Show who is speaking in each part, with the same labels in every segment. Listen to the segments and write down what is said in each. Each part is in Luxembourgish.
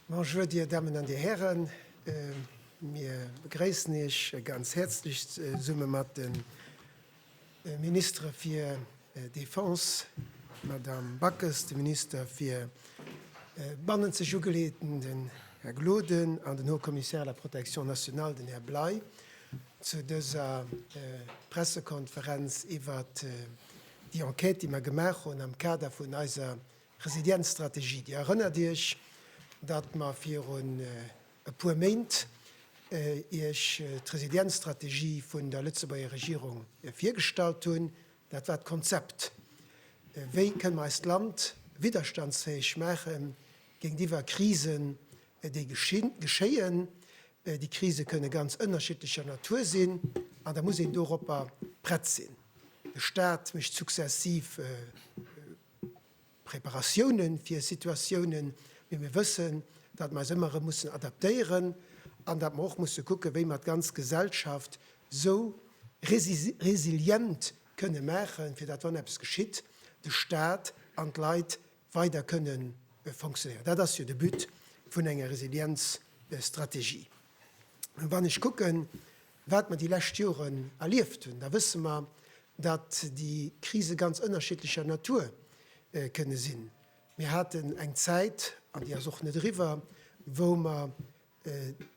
Speaker 1: Bonjour, Dir Dammen an Dir Hären. Mir begréissen Iech ganz häerzlech zesumme mat de Ministere fir Defense, d'Madame Backes, de Minister fir bannenzeg Ugeleeëten, den Här Gloden, an den Haut-Commissaire à la protection nationale, den Här Bley. Zu dëser Pressekonferenz iwwert déi Enquête, déi mer gemaach hunn am Kader vun eiser Resilienzstrategie. Dir erënnert Iech, datt mer virun e puer Méint Iech d'Resilienzstrategie vun der Lëtzebuerger Regierung virgestallt hunn. Dat war d'Konzept, wéi kënne mer eist Land widderstandsfäeg maachen Géintiwwer Krisen, déi geschéien, déi Krise kënne ganz ënnerschiddlecher Natur sinn, an da muss een doropper prett sinn. De Staat mécht successiv Preparatiounen fir Situatiounen, mee mir wëssen, datt mer eis ëmmer erëm mussen adaptéieren an datt mer och musse kucken, wéi mer d'ganz Gesellschaft esou resilient kënne maachen, fir datt, wann eppes geschitt, de Staat an d'Leit weider kënne fonctionnéieren. Dat ass jo de But vun enger Resilienzstrategie. A wann ech kucken, wat mer déi lescht Joren erlieft hunn, da wësse mer, datt déi Krise ganz ënnerschiddlecher Natur kënne sinn. Mir haten eng Zäit, an déi ass och net eriwwer, wou mer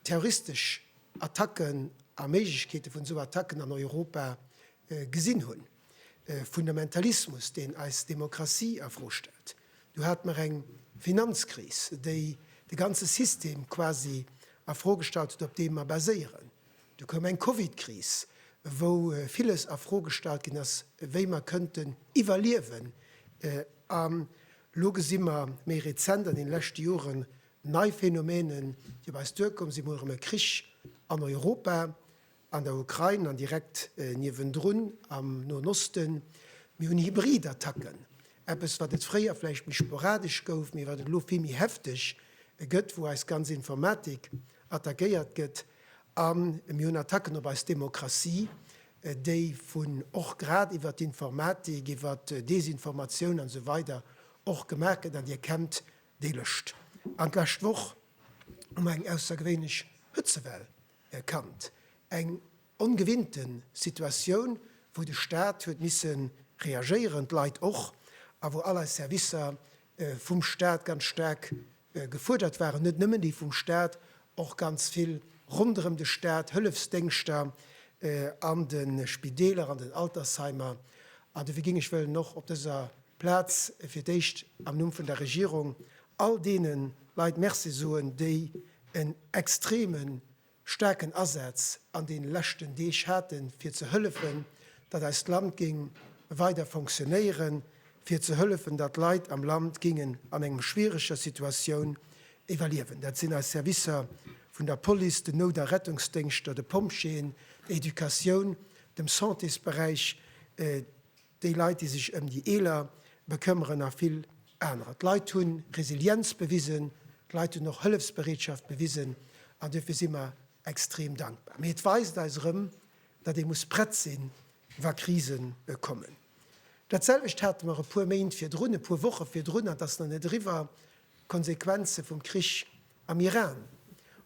Speaker 1: terroristesch Attacken a Méiglechkeete vun esou Attacken an Europa gesinn hunn, Fundamentalismus, deen eis Demokratie a Fro stellt. Du hate mer eng Finanzkris, déi de ganze System quasi a Fro gestallt huet, op deem mer baséieren. Du koum eng Covidkris, wou villes a Fro gestallt ginn ass, wéi mer kënnten iwwerliewen. An elo gesi mer méi rezent an deene leschte Joren, Nei Phänomenen, déi op eis duerkomm sinn, mol erëm e Krich an Europa, an der Ukrain an direkt niewendrun am Noen Osten. Mir hunn Hybridattacken, eppes wat et fréier vläicht méi sporadesch gouf, mee wat et elo vill méi hefteg gëtt, wou eis ganz Informatik attackéiert gëtt. A mir hunn Attacken op eis Demokratie, déi vun och grad iwwer d'Informatik, iwwer Desinformatioun an esou weider och gemaach gëtt, an Dir kennt Déi lëscht an d'lescht Woch hu mer eng aussergewéinlech Hëtzewell kannt, eng ongewinnte Situatioun, wou de Staat huet misse reagéieren, d'Leit och, a wou all eis Servicer vum Staat ganz staark gefuerdert waren, net nëmmen déi vum Staat, och ganz vill ronderëm de Staat, Hëllefsdéngschter an de Spideeler, an den Altersheimer. An dofir géing ech wëllen och op dëser Plaz fir d'éischt am Numm vun der Regierung all deene Leit Merci soen, déi en extreme staarken Asaz an deene leschten Deeg haten, fir ze hëllefen, datt eist Land géing weider fonctionnéieren, fir ze hëllefen, datt d'Leit am Land géingen an enger schwiereger Situatioun iwwerliewen. Dat sinn eis Servicer vun der Police, den Nout a Rettungsdéngschter, de Pompjeeën, der Educatioun, dem Santésberäich, déi Leit, déi sech ëm déi Eeler bekëmmeren a vill anerer. D'Leit hu Resilienz bewisen, d'Leit hunn och Hëllefsbereetschaft bewisen an duerfir si mer extrem dankbar. Mee et weist eis erëm, datt ee muss prett sinn, wa Krise kommen. Dat selwecht hate mer e puer Méint virdrun, e puer Woche virdrun, an et ass nach net eriwwer, d'Konsequenze vum Krich am Iran.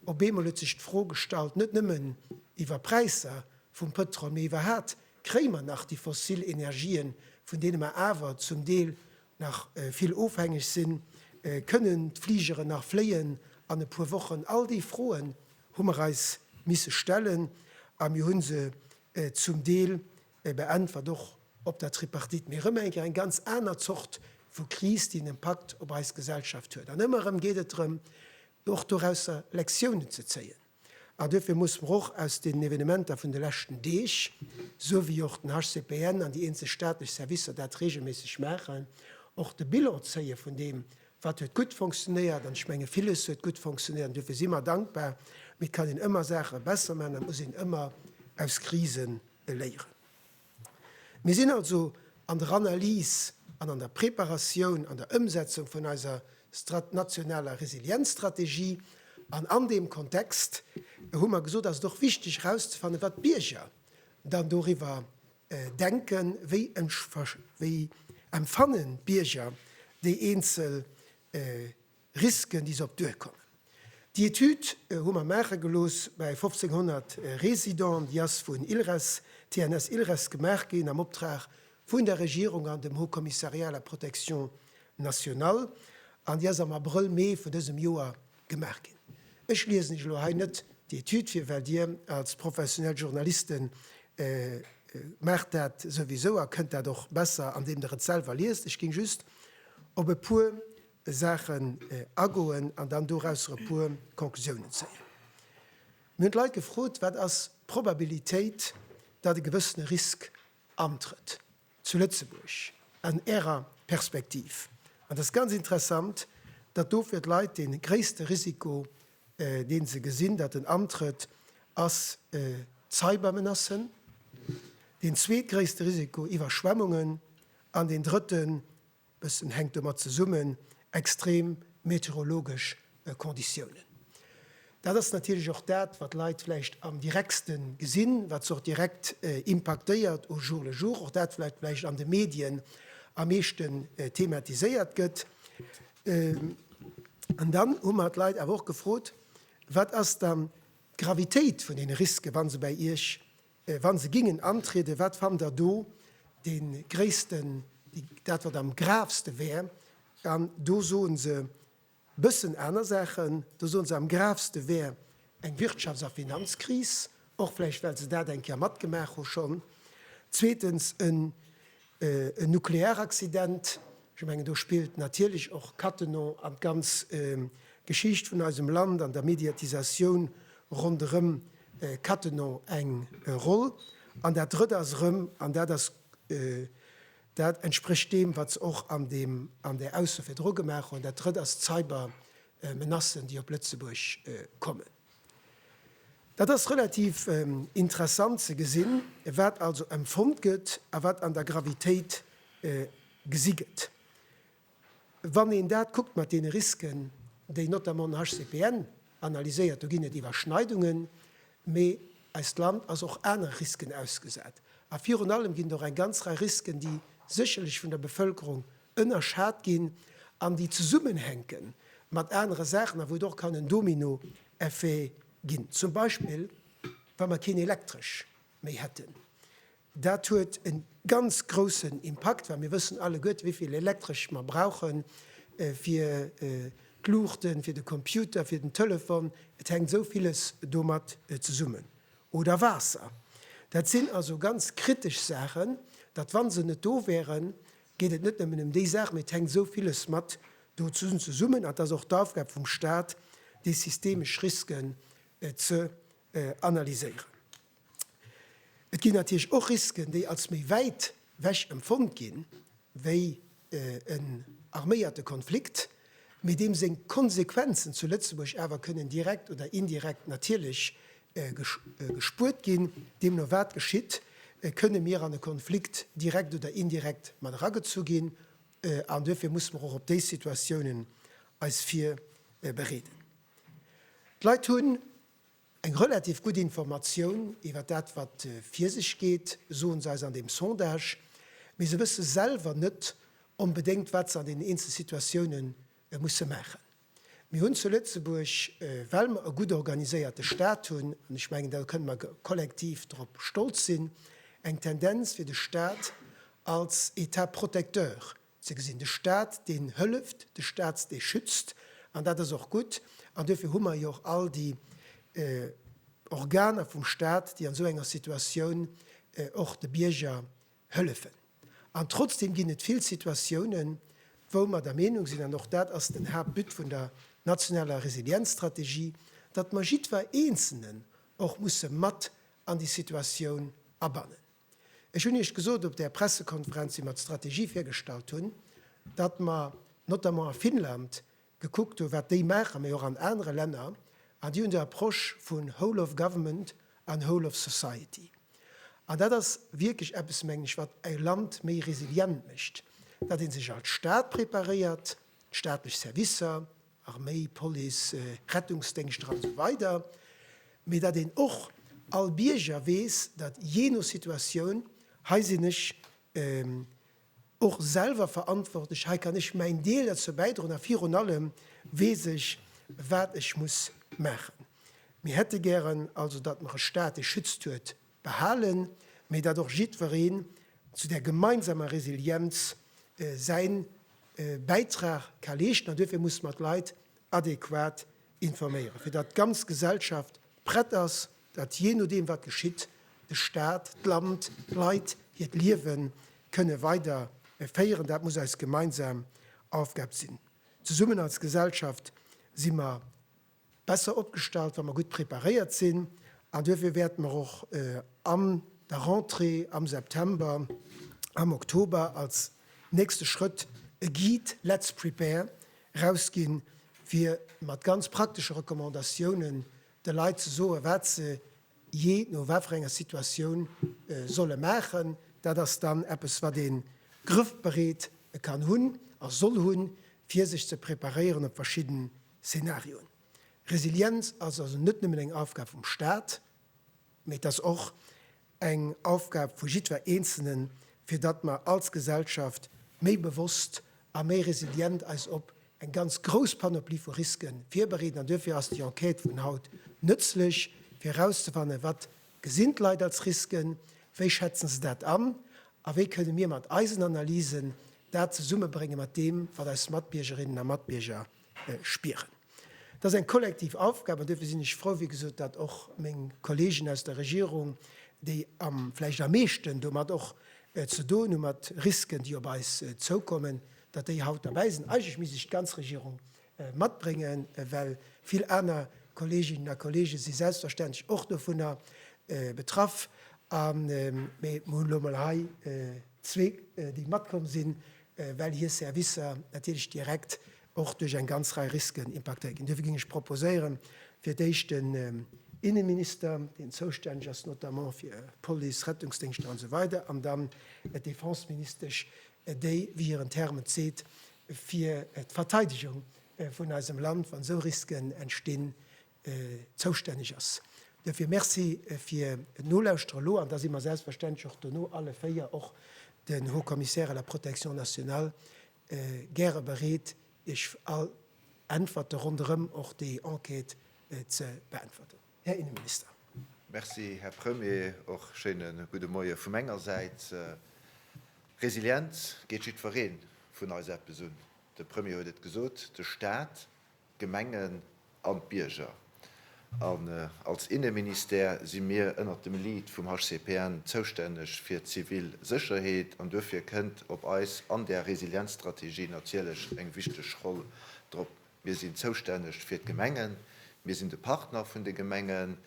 Speaker 1: Op eemol huet sech d'Fro gestallt, net nëmmen iwwer Präisser vum Pëtrol, mee iwwerhaapt, kréie mer nach déi fossil Energien, vun deene mer awer zum Deel nach vill ofhängeg sinn, kënnen d'Fligeren nach fléien an e puer Wochen? All déi Froen hu mer eis misse stellen a mir hu se zum Deel beäntwert, och op der Tripartite. Mee erëm eng Kéier eng ganz aner Zort vu Kris, déi en Impakt op eis Gesellschaft huet. An ëmmer erëm geet et drëm, och dorausser Lektiounen ze zéien. A duerfir musse mer och aus den Evenementer vun de leschten Deeg, esou wéi och den HCPN an déi eenzel staatlech Servicer dat regelméisseg maachen, och de Bilan zéie vun deem, wat huet gutt fonctionéiert. An ech menge villes huet gutt fonctionéiert an duerfir si mer dankbar. Mee et kann een ëmmer Saache besser maachen a muss een ëmmer aus Krisen léieren. Mir sinn also an der Analys an an der Preparatioun an der Ëmsetzung vun eiser nationaler Resilienzstrategie. An an deem Kontext hu mer gesot, ass et och wichteg erauszefannen, wat d'Bierger dann doriwwer denken. Wéi empfannen d'Bierger déi eenzel. Risken, déi se op d'Duer kommen. Déi Etüd hu mer maache gelooss bei 1500 Residenten. Déi ass vun ILRES, TNS ILRES, gemaach ginn am Optrag vun der Regierung an dem Haut Commissariat à la protection nationale an déi ass am Abrëll, Mee vun dësem Joer gemaach ginn. Ech liesen Iech elo hei net déi Etüd vir, well Dir als professionell Journaliste maacht dat souwisou a kënnt dat och besser, andeem Der et selwer liest. Ech géing just op e puer Saachen agoen an dann dorausser e puer Conclusiounen zéien. Mir hunn d'Leit gefrot, Wat ass d'Probabilitéit, datt e gewëssene Risk antrëtt zu Lëtzebuerg an Ärer Perspektiv? An et ass ganz interessant, datt do fir d'Leit dee gréisste Risiko, dee se gesinn, datt en antrëtt, ass d'Cybermenacen, deen zweetgréisste Risiko Iwwerschwemmungen an deen drëtten, Bëssen hänkt domat zesummen, extrem meteorologesch Konditiounen. Dat ass natierlech och dat, wat d'Leit vläicht am direktste gesinn, wat se och direkt impaktéiert au jour le jour, och dat wat vläicht an de Medien am meeschte thematiséiert gëtt. An dann hu mer d'Leit awer och gefrot, Wat ass dann d'Gravitéit vun deene Risken, wa se bei Iech Wa se gingen antrieden, wat fannt der do de gréissten, dat wat am gravste wär? An do soen se bëssen aner Saachen. Do soen se, am gravste wär eng Wirtschafts a Finanzkris, och vläicht well se dat eng Kéier matgemaach hu schonn. Zweetens, en En Nuklearaccident, ech mengen do spillt natierlech och Cattenom an d'ganz Geschicht vun eisem Land an der Mediatisatioun ronderëm Cattenom eng Roll. An dat Drëtt ass erëm, an dat ass, dat entsprécht deem, wat se och an deem, an där Ausso virdru gemaach hunn, dat Drëtt ass d'Cybermenacen, déi op Lëtzebuerg kommen. Dat ass relativ interessant ze gesinn, wat also empfonnt gëtt a wat an der Gravitéit gesi gëtt. Wann een dat kuckt mat deene Risken, déi notamment am HCPN analyséiert, do ginn et Iwwerschneidungen, mee eist Land ass och anere Risken ausgesat. A virun allem ginn et och eng ganz Rei Risken, déi sécherlech vun der Bevëlkerung ënnerschat ginn an déi zesummenhänke mat anere Saachen a wou et och kann en Domino-Effet ginn, zum Beispill wa mer keen Elektresch méi hätten. Dat huet e ganz groussen Impakt, well mir wëssen alleguerte wéi vill Elektresch mer brauche fir d'Luuchten, fir de Computer, fir den Telefon, et hänkt esou villes domat zesummen. Oder Waasser. Dat sinn also ganz kritesch Saachen, datt wa se net do wären, geet et net nëmmen ëm déi Saach, mee et hänkt esou villes mat do zesummen. An et ass och d'Aufgab vum Stat, déi systemesch Risken ze analyséieren. Et ginn natierlech och Risken, déi als méi wäit wech empfonnt ginn, wéi en arméierte Konflikt, mee deem seng Konsequenzen zu Lëtzebuerg awer kënnen direkt oder indirekt natierlech gespuert ginn. Deemno wat geschitt? Kënne mir an e Konflikt direkt oder indirekt mat eragezu ginn? An duerfir musse mer och op déi Situatiounen eis virbereeden. D'Leit hunn eng relativ gutt Informatioun iwwer dat wat vir sech geet, soe se eis an deem Sondage, mee se wësse selwer net onbedéngt wat se an deenen eenzel Situatioune musse maachen. Mir hunn zu Lëtzebuerg, well mer e gutt organiséierte Stat hunn, an ech mengen, da kënnen mer kollektiv drop stolz sinn, eng Tendenz fir de Stat als État protecteur ze gesinn, de Stat deen hëlleft, de Stat dee schützt. An dat ass och gutt. An duerfir hu mer jo och all déi Organer vum Stat, déi an esou enger Situatioun och de Bierger Hëllefen. An trotzdem ginn et vill Situatiounen, wou mer der Meenung sinn, an och dat ass den Haaptbut vun der nationaler Resilienzstrategie, datt mer jiddwer Eenzelnen och musse mat an déi Situatioun abannen. Ech hunn Iech gesot op där Pressekonferenz, wéi mer d'Strategie virgestallt hunn, datt mer notamment a Finnland gekuckt hu wat déi maachen, mee och an anere Länner, an déi hunn déi Approche vun Whole of Government an Whole of Society. An dat ass wierklech eppes, mengen ech, wat e Land méi resilient mécht, datt ee sech als Staat preparéiert, staatlech Servicer, Arméi, Police, Rettungsdéngschter an esou weider, mee datt een och all Bierger weess, datt jee no Situatioun, hei sinn ech, och selwer verantwortlech. Hei kann ech mäin Deel derzou bäidroen a virun allem weess ech, wat ech muss maachen. Mir hätte gären also, datt mer e Stat, dee schützt huet, behalen, mee datt och jiddwereen zu där gemeinsamer Resilienz säi Bäitrag ka leeschten. An duerfir musse mer d'Leit adequat Informéieren, fir datt d'ganz Gesellschaft prett ass, datt jee nodeem wat geschitt, de Staat, d'Land, d'Leit hiert Liewe kënne weider féieren. Dat muss eis gemeinsam Aufgab sinn. Zesummen als Gesellschaft si mer besser opgestallt, wa mer gutt preparéiert sinn. An duerfir wäerte mer och an der Rentrée am September, am Oktober als nächste Schrëtt e Guide Let's prepare Rausginn, fir mat ganz praktesche Recommandatiounen de Leit ze soen, wat se jee no wat fir enger Situatioun solle maachen. Dat ass dann eppes, wat ee grëffbereet kann hunn a soll hunn, fir sech ze preparéieren op verschidden Szenarioen. Resilienz ass also net nëmmen eng Aufgab vum Staat. Mee et ass och eng Aufgab vu jiddwer Eenzelnen, fir datt mer als Gesellschaft méi bewosst a méi resilient eis op eng ganz grouss Panoplie vu Risque virbereeden. An duerfir ass déi Enquête vun haut nëtzlech, fir erauszefannen, wat gesinn d'Leit als Risken, wéi schätzen se dat an a wéi kënne mir mat eisen Analysen dat zesummebrénge mat deem, wat eis Matbiergerinnen a Matbierger spieren. Dat ass eng kollektiv Aufgab an duerfir sinn ech frou, wéi gesot, datt och meng Kolleegen aus der Regierung, déi vläicht am meeschten domat och ze doen hunn, mat Risken, déi op eis zoukommen, datt déi haut derbäi sinn. Eigentlech misst ech d'ganz Regierung matbréngen, well vill aner Kolleeginnen a Kolleege si selbstverständlech och dovunner betraff. Mee mir hunn elo emol hei zwee, déi matkomm sinn, well hir Servicer natierlech direkt och duerch eng ganz Rei Risken impaktéiert ginn. Duerfir géing ech proposéieren, fir d'éischt den Inneminister, deen zoustänneg ass notamment fir Police, Rettungsdéngschter an esou weider an dann d'Defenseministesch, déi, wéi hiren Term et seet, fir d'Verteidegung vun eisem Land, wann esou Risken entstinn, Zoustänneg ass. Duerfir Merci fir d'Nolauschteren elo. An da si mer selbstverständlech och dono alle véier, och den Haut-Commissaire à la protection nationale, gäre bereet, Iech all Äntwerte ronderëm och déi Enquête ze beäntwerten. Här Innenminister. Merci, Här
Speaker 2: Premier. Och schéine gudde Moie vu menger Säit. Resilienz geet jiddweree vun eis eppes un. De Premier huet et gesot, de Stat. d'Gemengen an d'Bierger. An als Inneministère si mir ënnert dem Lead vum HCPN zoustänneg fir d'zivil Sécherheet an duerfir kënnt op eis an där Resilienzstrategie natierlech eng wichteg Roll drop. Mir sinn zoustänneg fir d'Gemengen, mir sinn de Partner vun de Gemengen,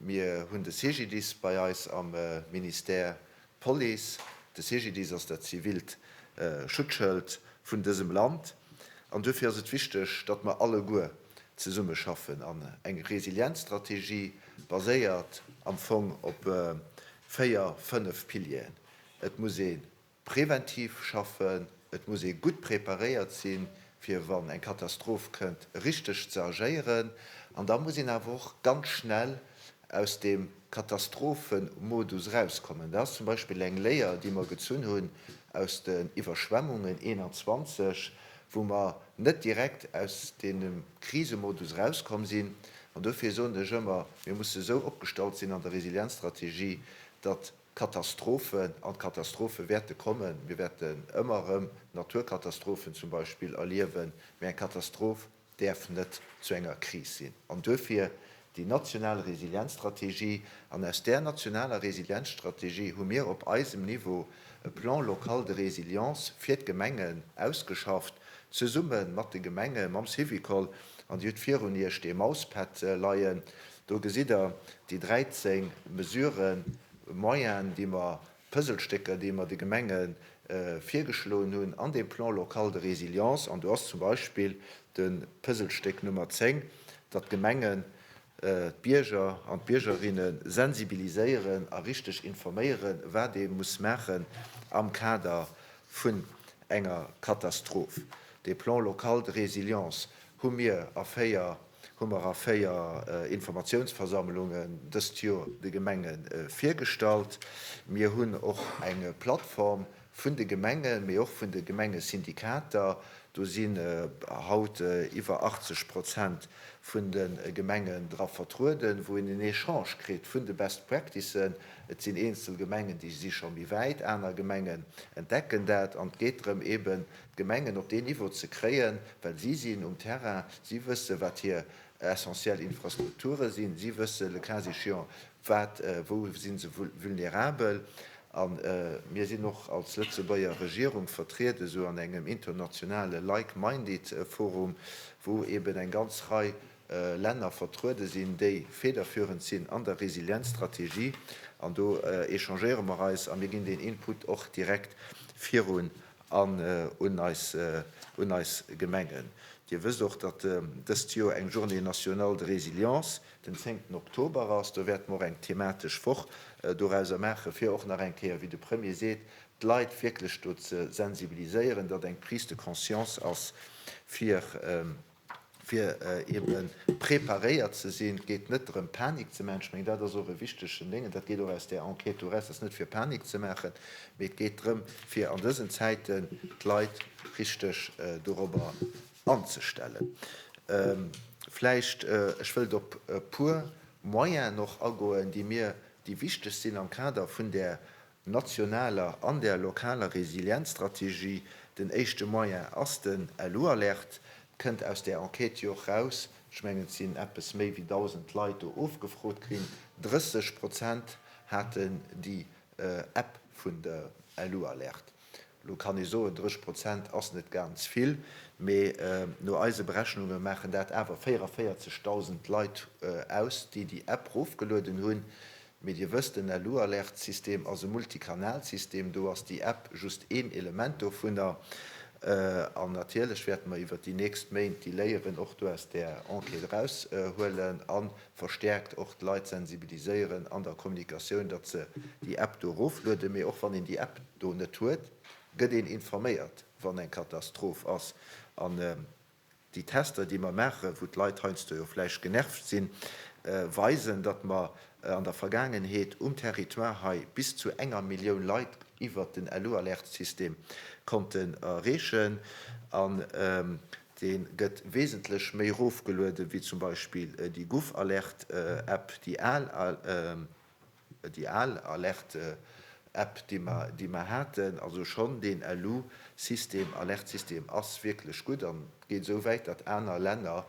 Speaker 2: mir hunn de CGDIS bei eis am Ministère, D'Police, de CGDIS ass dat zivilt Schutzschëld vun dësem Land an duerfir ass et wichteg, datt mer alleguer zesummeschaffen an eng Resilienzstrategie baséiert am Fong op véier, fënnef Pilieren. Et muss ee preventiv schaffen. Et muss ee gutt preparéiert sinn, fir wann eng Katastroph kënnt, richteg ze agéieren. An da muss een awer och ganz schnell aus deem Katastrophe-Modus erauskommen. Dat ass zum Beispill eng Léier, déi mer gezunn hunn aus den Iwwerschwemmungen 21, wou mer net direkt aus deem Krisemodus erauskomm sinn. An dofir soen ech ëmmer, mir musse esou opgestallt sinn an der Resilienzstrategie, datt Katastrophen an d'Katastrophe wäerte kommen. Mir wäerten ëmmer erëm Naturkatastrophen zum Beispill erliewen, mee eng Katastroph däerf net zu enger Kris sinn. An duerfir déi national Resilienzstrategie. An aus där nationaler Resilienzstrategie hu mir op eisem Niveau e Plan local de résilience fir d'Gemengen ausgeschafft, zesumme mat de Gemenge, mam Syvicol. An Dir hutt virun Iech dee Mauspad leien. Do gesitt Der déi 13 Mesuren, Moyenen, déi mer, Pëselstécker, déi mer de Gemenge virgeschloen hunn an deem Plan local de résilience. An do ass zum Beispill de Pëselstéck Nummer 10, datt d'Gemengen d'Bierger an d'Biergerinne sensibiliséieren a richteg informéieren, wat ee muss maachen am Kader vun enger Katastroph. Dee Plan local de résilience hu mir a véier hu mer a véier Informatiounsversammlunge dëst Joer de Gemenge virgestallt. Mir hunn och eng Plattform vun de Gemengen, mee och vun de Gemengesyndikater, do sinn haut iwwer 80 Prozent vun de Gemengen dra vertrueden, wou een en Echange kritt vun de Best Practicen. Et sinn eenzel Gemengen, déi si scho méi wäit, aner Gemengen entdecken dat an et geet drëm, eeben D'Gemengen op deen Niveau ze kréien, well si sinn um Terrain, si wësse wat hir essentiell Infrastrukture sinn, si wësse le cas échéant wat, wou si se vulnerabel. A mir sinn och als Lëtzebuerger Regierung vertriet esou an engem internationale Like-Minded Forum, wou eben eng ganz Rei Länner vertruede sinn, déi federführend sinn an der Resilienzstrategie. An do échangéiere mer eis a mir ginn deen Input och direkt virun. An un eis, un eis Gemengen. Dir wësst och, datt dëst Joer eng Journée nationale de résilience den zéngten Oktober ass. Do wäerte mer och eng thematesch Woch dorauser maachen, fir och nach eng Kéier, wéi de Premier seet, d'Leit wierklech do ze sensibiliséieren, datt eng Prise de conscience ass fir, fir ebe preparéiert ze sinn. Et geet net drëm, Panik ze maachen. Ech mengen, dat ass och e wichtegen Déng, an dat geet och aus där Enquête eraus, et ass net fir Panik ze maachen, mee et geet drëm, fir an dësen Zäiten d'Leit richteg dorobber anzestellen. Vläicht, ech wëllt op e puer Moyenen och agoen, déi mir, déi wichteg sinn am Kader vun där nationaler an der lokaler Resilienzstrategie. Den éischte Moyen ass den LU-Alert, et kënnt aus där Enquête jo och raus, ech mengen et sinn eppes méi wéi 1.000 Leit do ofgefrot ginn, 30 Prozent haten déi App vun der LU-Alert. Elo kann ee soen, 30 Prozent ass net ganz vill, mee no eise Berechnunge maachen dat awer 44.000 Leit aus, déi déi App rofgelueden hunn, Mee Dir wësst, den Alu-Alert-System ass e Multikanal-System, do ass déi App just een Element dovunner. An natierlech wäerte mer iwwert déi nächst Méint déi Léieren och do aus där Enquête eraushuelen a verstäerkt och d'Leit sensibiliséieren an der Kommunikatioun, datt se déi App do eroflueden. Mee och wann een déi App do net huet, gëtt een informéiert, wann eng Katastroph ass. Déi Tester, déi mer maachen, wou d'Leit heiansdo jo vläicht genervt sinn, weisen, datt mer an der Vergaangenheet um Territoire hei bis zu enger Millioun Leit iwwert den LU-Alerte-System konnten erreechen. An dee gëtt wesentlech méi erofgeluede wéi zum Beispill déi Gouv-Alerte-App, déi al. Déi al Alerte-App, déi mer haten, also schonn deen LU-System, Alerte-System, ass wierklech gutt an geet esou wäit, datt aner Länner,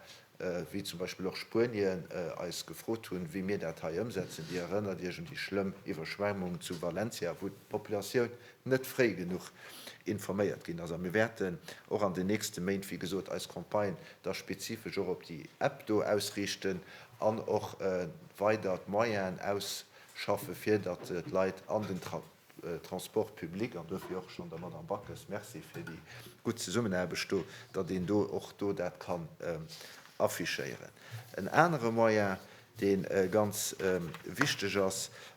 Speaker 2: wéi zum Beispill och Spuenien, eis gefrot hunn, wéi mir dat hei ëmsetzen. Dir erënnert Iech un déi schlëmm Iwwerschwemmung zu Valencia, wou d'Populatioun net fréi genuch informéiert ginn ass. A mir wäerten och an den nächste Méint, wéi gesot, eis Campagne da spezifesch och op déi App do ausriichten an och weider d'Moyenen ausschaffe fir datt d'Leit an den Transport public, an dofir och schonn der Madame Backes Merci fir déi gutt Zesummenaarbecht do, datt een do och do dat kann affichéieren. En anere Moyen dee ganz wichteg ass,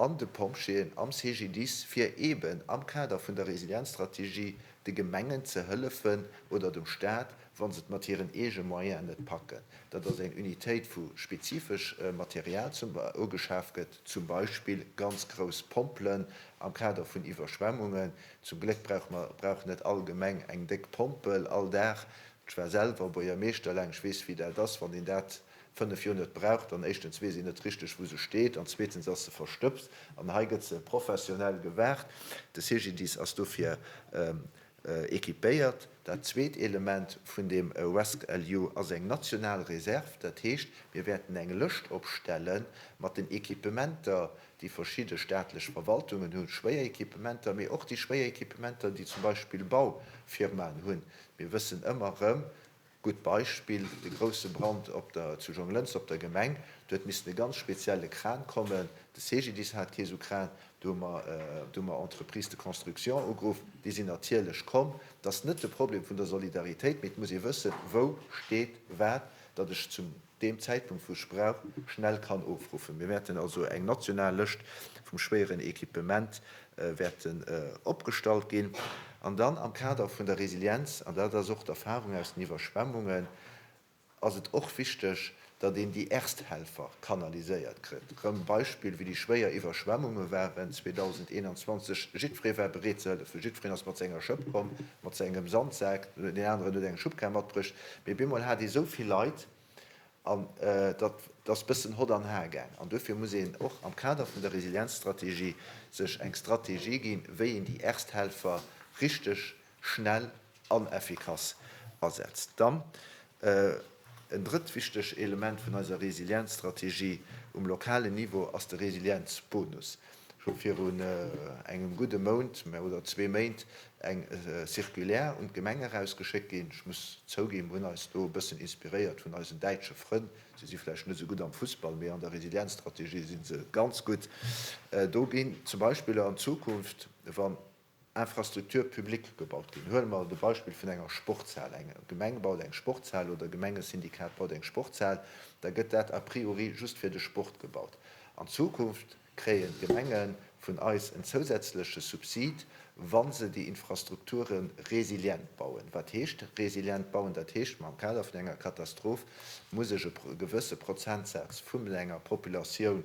Speaker 2: an de Pompjeeën am CGDIS, fir eeben am Kader vun der Resilienzstrategie de Gemengen ze hëllefen oder dem Stat, wa se et mat hiren eege Moyenen net packen, datt ass eng Unitéit wou spezifesch Material zum ugeschaf gëtt, zum Beispill ganz grouss Pompelen am Kader vun Iwwerschwemmungen. Zum Gléck brauch mer, brauch net all Gemeng eng déck Pompel all Dag. Ech war selwer Buergermeeschter laang, ech weess wéi dat ass, wann een dat. Fënnef Joer net braucht an éischtens weess een net richteg wou se steet an zweetens ass se verstëbst an hei gëtt se professionell gewaart. De CGDIS ass dofir equipéiert. Dat zweet Element vun deem rescEU ass eng national Reserv. Dat heescht, mir wäerten eng Lëscht opstelle mat den Equipementer déi verschidde staatlech Verwaltungen hunn, schwéier Equipementer, mee och déi schwéier Equipementer déi zum Beispill Baufirmaen hunn. Mir wëssen ëmmer erëm, Gutt Beispill, de grousse Brand op der zu Jonglënster op der Gemeng. Do huet missen e ganz spezielle Kran kommen. De CGDIS hat kee sou Kran. Do hu mer, do hu mer Entreprises de construction ugeruff. Déi sinn natierlech komm. Dat ass net de Problem vun der Solidaritéit, mee et muss ee wëssen, wou steet wat, datt ech zum. deem Zäitpunkt wou Sprauch schnell kann ofruffen. Mir wäerten also eng national Lëscht vum schwéieren Equipement wäerten opgestallt ginn an dann am Kader vun der Resilienz, an dat ass och d'Erfahrung aus den Iwwerschwemmungen, ass et och wichteg, datt een déi Ersthelfer kanaliséiert kritt. Rëm Beispill wéi déi schwéier Iwwerschwemmunge waren 2021, jiddweree war bereet ze hëllefen, jiddwereen ass mat senger Schëpp komm, mat sengem Sandsak, deen aneren huet eng Schubkar matbruecht, Mee bemol hat ee sou vill Leit an dat ass bëssen Hott an Har gaang. An duerfir muss een och am Kader vun der Resilienzstrategie sech eng Strategie ginn, wéi een déi Ersthelfer richteg schnell an effikass asetzt. Dann en drëtt wichteg Element vun eiser Resilienzstrategie um lokalen Niveau ass de Resilienzbonus. Ech hu virun engem gudde Mount oder zwee Méint eng Circulaire un d'Gemeng erausgeschéckt ginn. Ech muss zouginn, mir hunn eis do e bëssen inspiréiert vun eisen däitsche Frënn. Si si vläicht net esou gutt am Fussball, mee an der Resilienzstrategie si se ganz gutt. Do ginn zum Beispill an Zukunft, wann Infrastructure publique gebaut ginn. Huele mer de Beispill vun enger Sportshal. Eng Gemeng baut eng Sportshal oder e Gemengesyndikat baut eng Sportshal, da gëtt dat a priori just fir de Sport gebaut. An Zukunft kréien d'Gemenge vun eis en zousätzleche Subsid, wa se déi Infrastrukture resilient bauen. Wat heescht resilient bauen? Dat heescht, am Kader vun enger Katastroph muss ech e gewësse Prozentsaz vu menger Populatioun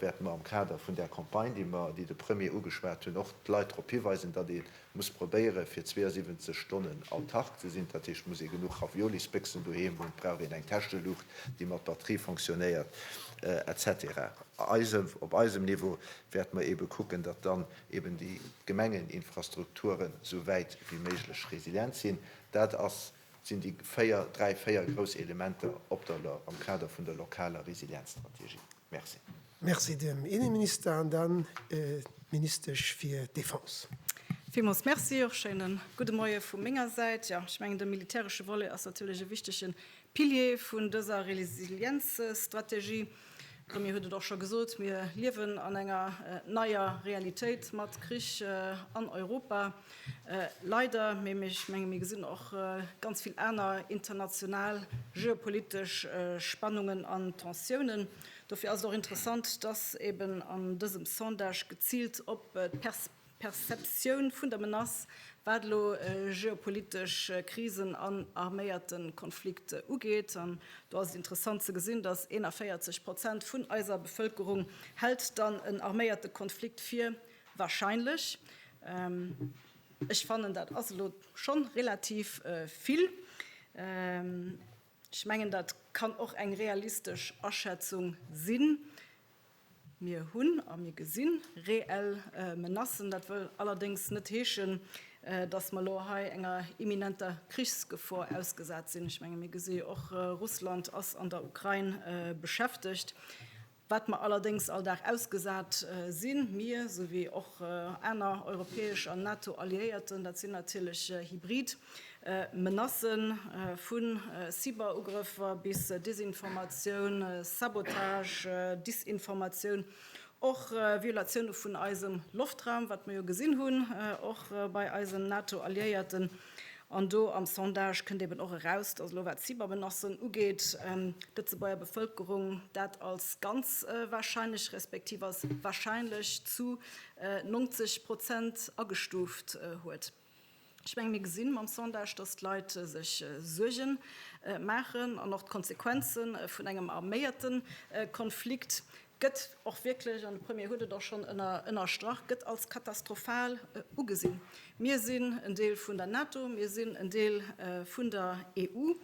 Speaker 2: wäerte mer am Kader vun där Campagne, déi mer, déi de Premier ugeschwat hunn, och d'Leit drop hiweisen, datt ee muss probéiere fir 72 Stonnen autark ze sinn. Dat heescht, et muss ee genuch Raviolisbéchsen doheem hunn, et brauch een eng Täscheluucht, déi mat Batterie fonctionnéiert, etc. Eise, op eisem Niveau wäerte mer eebe kucken, datt dann eeben déi Gemengeninfrastrukturen esou wäit wéi méiglech resilient sinn. Dat ass. sinn déi véier, dräi, véier grouss Elementer op der am Kader vun der lokaler Resilienzstrategie. Merci. Merci dem
Speaker 1: Inneminister an dann d'Ministesch fir Defense. Villmools Merci.
Speaker 3: Och schéine gudde Moie vu menger Säit. Jo, ech mengen, de militäresche Volet ass natierlech e wichtege Pilier vun dëser Resilienzstrategie. D'Romy huet et och scho gesot, mir liewen an enger neier Realitéit mat Krich an Europa, leider. Mee ech menge mir gesinn och ganz vill aner international geopolitesch Spannungen an Tensiounen. Dofir ass et och interessant, dass eeben an dësem Sondage geziilt op d'Perspektiven Perceptioun vun der Menace, wat elo geopolitesch Krisen an arméierte Konflikt ugeet. An do ass et interessant ze gesinn, datt 41 Prozent vun eiser Bevëlkerung hält dann en arméierte Konflikt fir wahrscheinlech. Ech fannen, dat ass elo schonn relativ vill. Ech mengen, dat kann och eng realistesch Aschätzung sinn. Mir hunn a mir gesi reell Menacen. Dat wëll allerdéngs net heeschen, datt mer elo hei enger imminenter Krichsgefor ausgesat sinn. Ech menge mir gesi jo och, Russland ass an der Ukrain beschäftegt. Wat mer allerdéngs all Dag ausgesat sinn, mir souwéi och aner europäesch an NATO-Alliéierten, dat sinn natierlech hybrid Menacë vu Cyberugrëffer bis Desinformatioun, Sabotage, Disinformatioun, och Violatioune vun eisem Loftraum, wat mer jo gesinn hunn, och bei eisen NATO-Alliéierten. An do am Sondage kënnt eben och eraus, datt elo wat Cybermenacen ugeet, d'Lëtzebuerger Bevëlkerung dat als ganz warscheinlech respektiv als warscheinlech zu 90 Prozent agestuuft huet. Ech mengen, mir gesinn mam Sondage, dass d'Leit sech Suerge maachen an och d'Konsequenze vun engem arméierte Konflikt gëtt och wierklech, an de Premier huet et och schonn ënnerstrach, gëtt als katastrophal ugesinn. Mir sinn en Deel vun der NATO, mir sinn en Deel vun der EU.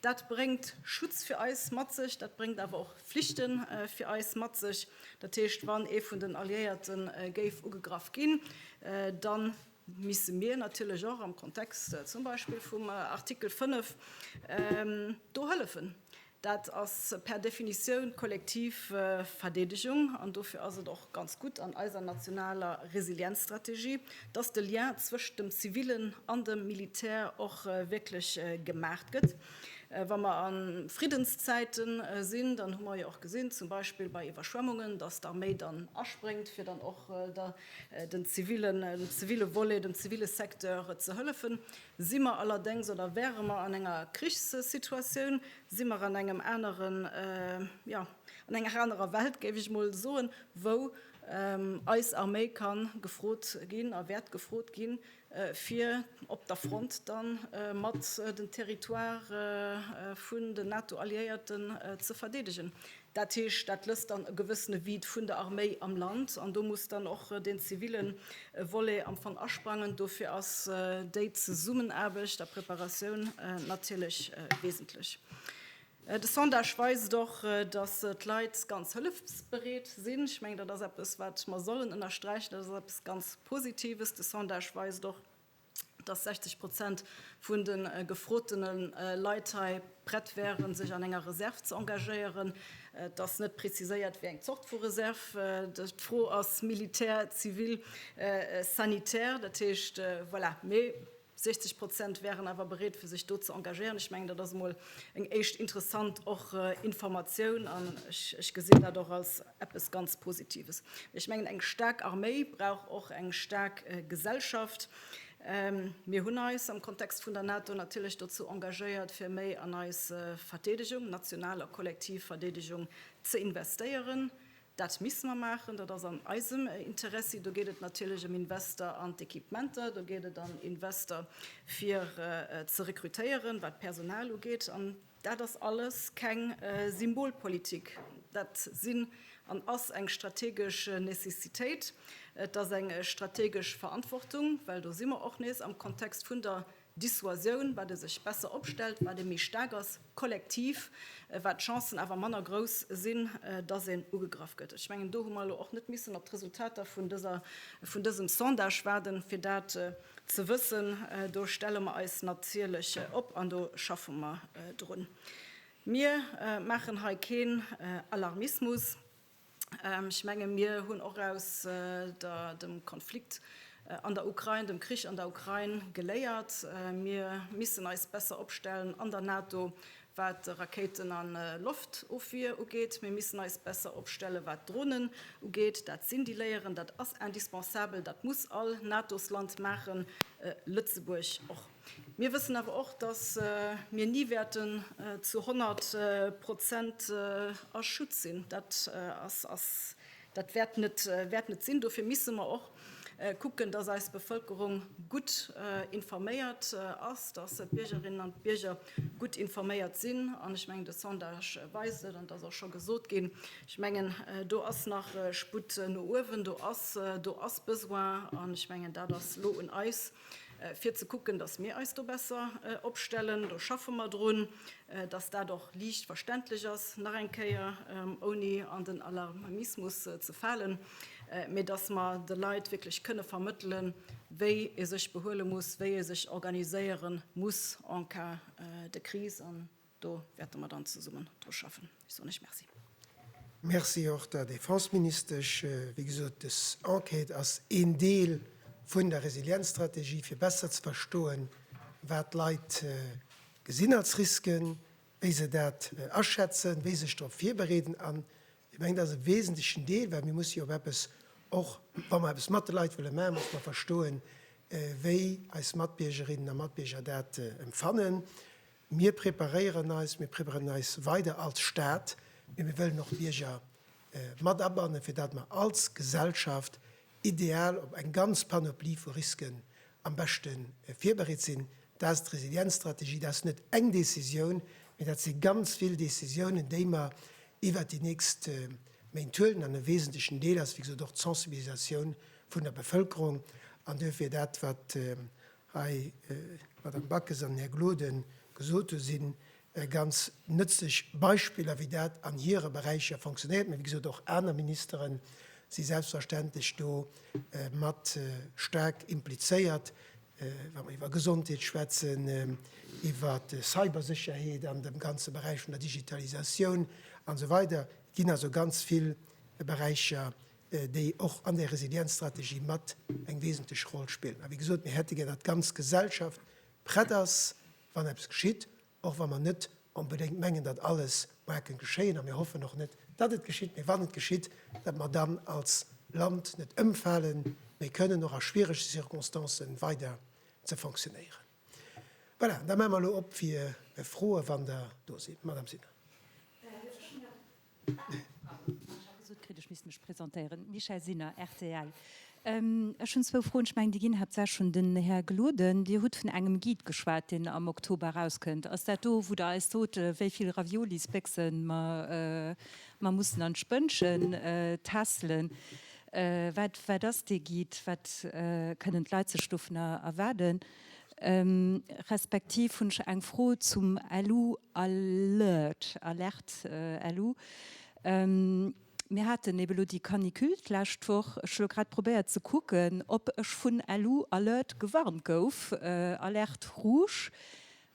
Speaker 3: Dat bréngt Schutz fir eis mat sech, dat bréngt awer och Flichte fir eis mat sech. Dat heescht, wann ee vun den Alliéierte géif ugegraff ginn, da misse mir natierlech och am Kontext zum Beispill vum Artikel 5 do hëllefen. Dat ass per Definitioun d'kollektiv Verdeedegung an dofir ass et och ganz gutt an eiser nationaler Resilienzstrategie, dass de Lien zwëscht dem Zivilen an dem Militär och wierklech gemaacht gëtt. Wa mer a Friddenszäite sinn, dann hu mer jo och gesinn, zum Beispill bei Iwwerschwemmungen, dass d'Arméi dann aspréngt, fir dann och der den zivile Volet, dem zivile Secteur ze hëllefen, si mer allerdéngs oder wäre mer an enger Krichssituatioun, si mer an engem aneren, jo, an enger anerer Welt, géif ech emol soen, wou eis Arméi ka gefrot ginn a wäert gefrot ginn, fir op der Front dann mat den Territoire vun den NATO-Alliéierten ze verdeedegen. Dat heescht, dat lësst dann e gewëssene Vide vun der Arméi am Land an do muss dann och den zivile Volet am Fong asprangen. Dofir ass déi Zesummenaarbecht a Preparatioun natierlech wesentlech. De Sondage weist och, datt d'Leit ganz hëllefsbereet sinn. Ech mengen, dat ass eppes, wat mer sollen ënnersträichen. Dat ass eppes ganz Positives. De Sondage weist och, datt 60 Prozent vun de gefrotene Leit hei prett wären, sech an enger Reserv ze engagéieren. Et ass net preziséiert, wéi eng Zort vu Reserv. D'Fro ass, Militär, zivil, sanitär. Dat heescht, voilà. 60 Prozent wären awer bereet fir sech do ze engagéieren. Ech mengen, dat ass emol eng éischt interessant och Informatioun an ech gesinn dat och als eppes ganz Positives. Ech mengen eng staark Arméi brauch och eng staark Gesellschaft. Ähm, mir hunn eis am Kontext vun der NATO natierlech dozou engagéiert, fir méi an eis Verdeedegung, national a kollektiv Verdeedegung, ze investéieren. Dat misse mer maachen, dat ass an eisem Interessi. Do geet et natierlech ëm Invester an d'Equipementer, do geet et an Invester fir ze rekrutéieren, wat d'Personal ugeet. An dat ass alles keng Symbolpolitik, dat sinn an ass eng strategesch Necessitéit, et ass eng strategesch Verantwortung, well do si mer och nees am Kontext vun der Dissuasioun, wat e sech besser opstellt, wat e méi staark ass, kollektiv, wat d'Chancen awer manner grouss sinn, dass een ugegraff gëtt. Ech mengen, do hu mer elo och net missen op d'Resultater vun dëser, vun dësem Sondage waarden, fir dat ze wëssen. Do stelle mer eis natierlech op an do schaffe mer drun. Mir maachen hei keen Alarmismus. Ech menge mir hunn och aus der dem Konflikt an der Ukrain, dem Krich an der Ukrain geléiert. Mir missen eis besser opstellen an der NATO, wat Rakéiten a Loftofwier ugeet. Mir missen eis besser opstelle wat Dronen ugeet. Dat sinn déi Léieren, dat ass indispensabel, dat muss all Natosland maachen, Lëtzebuerg och. Mir wëssen awer och, dass mir ni wäerten zu 100 Prozent a Schutt sinn. Dat ass, ass, dat wäert net, wäert net sinn. Dofir misse mer och kucken, dass eis Bevëlkerung gutt informéiert ass, dass d'Biergerinnen an d'Bierger gutt informéiert sinn. An ech mengen, de Sondage weist et, an et ass och scho gesot ginn, ech mengen, do ass nach Sputt no uewen, do ass, do ass Besoin. An ech mengen, dat ass elo un eis, fir ze kucken, dass mir eis do besser opstellen. Do schaffe mer drun, dass dat och liicht verständlech ass, nach eng Kéier, ouni an den Alarmismus ze falen, mee dass mer de Leit wierklech kënne vermëttelen, wéi ee sech behuele muss, wéi ee sech organiséiere muss en cas de crise. Do wäerte mer dann zesummen dru schaffen. Ech soen lech Merci. Merci
Speaker 1: och der Defenseministesch. Wéi gesot, des Enquête ass een Deel vun der Resilienzstrategie, fir besser ze verstoen, wat d'Leit gesinn als Risken, wéi se dat aschätzen, wéi sech drop virbereeden. An ech mengen, dat ass e wesentlechen Deel, well mir musse jo op eppes, och wa mer eppes mat de Leit wëlle maachen, musse mer verstoen, wéi eis Matbiergerinnen a Matbierger dat empfannen. Mir preparéieren eis, mir preparéieren eis weider als Stat, mee mir wëllen och d'Bierger mat abannen, fir datt mer als Gesellschaft ideal op eng ganz Panoplie vu Risken am beschte virbereet sinn. Dat ass d'Resilienzstrategie. Dat ass net eng Décisioun, mee dat si ganz vill Décisiounen, déi mer iwwert déi nächst Méint huelen. An e wesentlechen Deel ass, wéi gesot, och d'Sensibilisatioun vun der Bevëlkerung. An duerfir dat, wat hei, d'Madame Backes an den Här Gloden gesot hunn, si ganz nëtzlech Beispiller, wéi dat an hire Beräicher funktionéiert. Mä wéi gesot, och aner Ministere si selbstverständlech do mat staark implizéiert, wa mer iwwer Gesondheet schwätzen, iwwer Cybersécherheet an dem ganze Beräich vun der Digitalisatioun an esou weider. Et ginn also ganz vill Beräicher, déi och an där Resilienzstrategie mat eng wesentlech Roll spillen. A wéi gesot, mir hätte gär, datt d'ganz Gesellschaft prett ass, wann eppes geschitt, och wa mer net onbedéngt mengen, datt alles moarn kënn geschéien, a mir hoffen och net, datt et geschitt, mee wann et geschitt, datt mer dann als Land net ëmfalen, mee kënnen och a schwierege Circonstancen weider ze fonctionnéieren. Voilà, an da maache mer elo op fir Froen, wann der do sidd, Madame Sinner.
Speaker 4: Michèle Sinner, rtl, Ech hunn zwou Froen. Ech mengen, déi ginn haaptsächlech un den Här Gloden. Dir hutt vun engem Guide geschwat, deen am Oktober erauskënnt. Ass dat do, wou Der eis sot, wéi vill Raviolisbéchse mer mussen an d'Spënnche tässelen? Wat ass dee Guide? Wat kënnen d'Leit sech dovun erwaarden? Respektiv hunn ech eng Fro zum LU alert, Alerte LU. Mir haten eben elo déi Canicule d'lescht Woch. Ech hu elo grad probéiert ze kucken, ob ech vun LU alert gewarnt gouf, Alerte rouge.